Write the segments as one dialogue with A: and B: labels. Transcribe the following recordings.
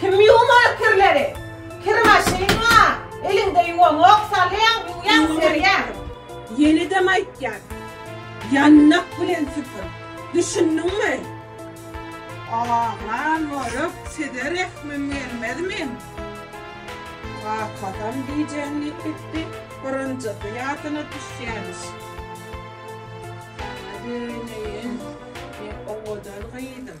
A: Kim ýuwmar kirleri? Kir maşyn bar. Eliňde ýuwaňok, salýaň, ýuwýaň, serýäň. Ýenedem aýtýan. Ýandak bilen süpür. Düşündiňmi? Aman moruk, size rehmim gelmezmi? Kakasam gijäň diýip gitdi. Birinjisi ýadyna düşýämiş. Ýa beýleýin, men owadan gyzym.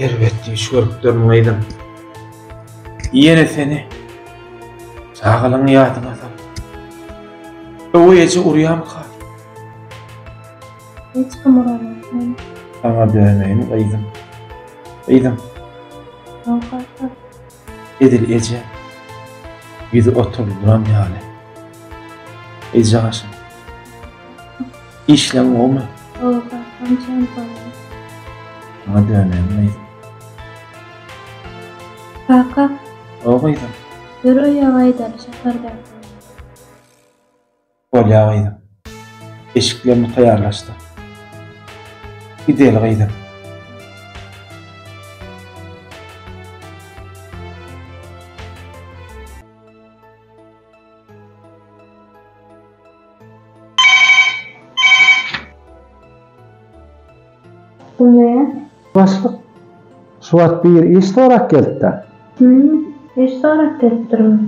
A: Erbet düýş görüp durun gyzym. Ýene seni çagalygyň ýadyňa salyp. Öwi eje urýamyka? Hiç kim uranok men. Saňa döneýin gyzym. Gyzym. Awkaka. Edil eje. Ýüzi oturdy duran ýaly. Eje gaşym. Işleň gowymy? Gowy kakam jan gowy. Saňa döneýin gyzym. Kaka. Gowy gyzym. Ýör öýe gaýdaly şäherden. Bolýa gyzym. Eşiklerini taýýarlaşdyr. Gideli gyzym. Güne. Başlyk. Şu wagt bir iş sorak gelipdi. Hüm, iş sorak gelipdirmi?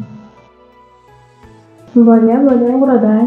A: Bolýa, bolýa, ugradaý.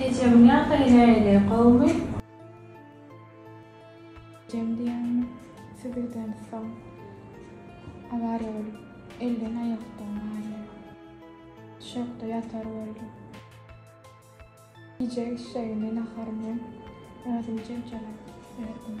A: Ejegiň ýagdaýy näili gowmy. Ejem diýýäňmi siz öýden soň awariýa bolup elden aýakdan gaýa düşekde ýatar boldy. Gije işşegini naharyny özüm jebjelap berdim.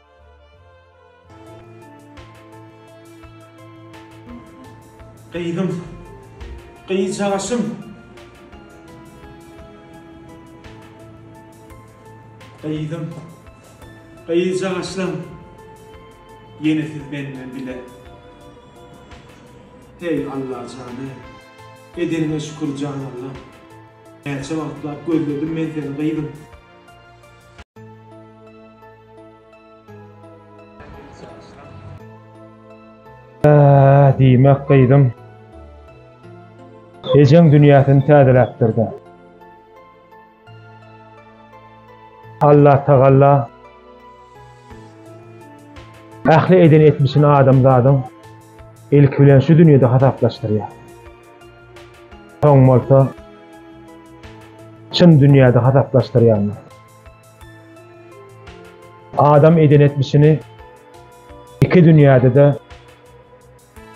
A: Gyzym. Gyzjagaşym. Gyzym. Gyzjagaşym. Ýene siz menden bile. Heý, Alla jany. Edeniňe şükür, jan Allam. Näçe wagtlap gözledim men seni, gyzym. Äh, diýmek gyzym. Ejeň dünýäsini täzeläpdir-de. Alla tagalla ähli eden etmişini adamzadyň ilki bilen şu dünýede hasaplaşdyrýar. Soň bolsa çyn dünýäde hasaplaşdyrýarlar. Adam eden etmişini iki dünýäde-de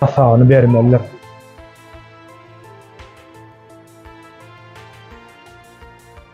A: hasabyny bermelidir.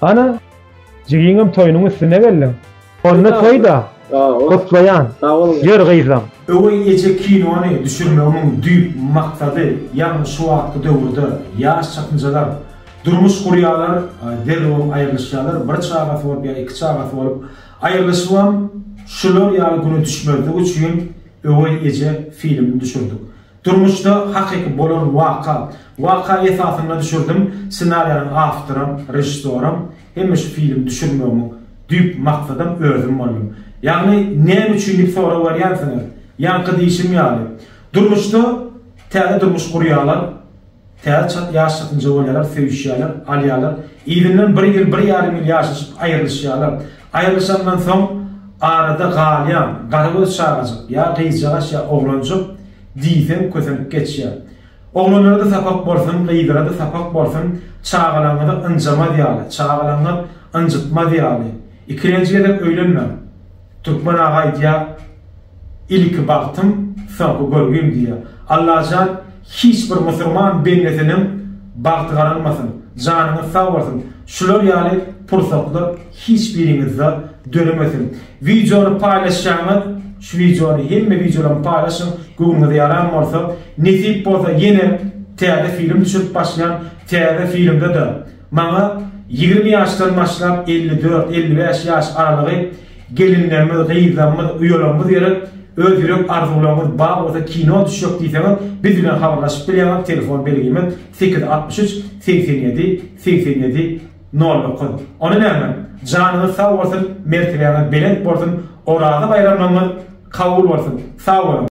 A: Ana, jigiňem toýunyň üstüne geldiň. Onda toý-da, gutlaýan. Ýör gyzlam. Öweý eje kinony düşürmegimiň düýp maksady ýagny şu wagtky döwürde ýaş çatynjalar durmuş gurýarlar, derrewem aýrylyşýarlar, bir çagasy bolup ýa iki çagasy bolup aýrylyşybam şular ýaly güne düşmezlik üçin Öweý eje filmini düşürdik. Durmuşda hakyky bolan waka. Waka esasynda düşürdim. Ssenariýanyň awtoram, režissoram, hemme şu filmi düşürmegiň düýp maksadam özüm boldum. Ýagny näme üçin diýip sorag berýänsiňiz? Ýaňky diýşim ýaly, durmuşda täze durmuş gurýarlar. Täze çalt ýaşjakny jowaýarlar, söýüşýärler, alýarlar. Yzyndan bir ýyl, bir ýarym ýyl ýaşaşyp, aýrylyşýarlar. Aýrylyşandan soň arada galýan garagöz çagajyk, ýa gyzjagaş, ýa oglanjyk diýseň kösenip geçýär. Oglanlara-da sapak bolsun, gyzlara-da sapak bolsun, çagalaryňyza ynjamaz ýaly, çagalaryňyz ynjytmaz ýaly, ikilenji gezek öýlenmäň. Türkmen aga aýdýa iliki bagtym soňky görgim diýýä. Allajan hiç bir musurman bendesininiň bagty garalmasyn, janyňyz sag bolsun, şular ýaly pursatlar hiç biriňizde döremesin. Wideony paýlaşýaňyz, şu wideony hemme wideolamy paýlaşyň, göwnüňize ýaran bolsa, nesip bolsa ýene täze film düşürip başlaýan, täze filmde-de, Maňa ýigrimi ýaşdan başlap elli dört, elli bäş ýaş aralygy gelinlerimiz, gyzlarymyz, uýalarymyz gerek, öz ýürek arzuwlaryňyz bar bolsa kino düşjek diýseňiz biz bilen habarlaşyp bilýäňiz, telefon belgimiz sekiz altmyş üç, segsen ýedi, segsen ýedi, nol dokuz. Ony näme? Janyňyz sag bolsun, mertebäňiz belent bolsun, Oraza baýramlaryňyz kabul bolsun! Sag boluň!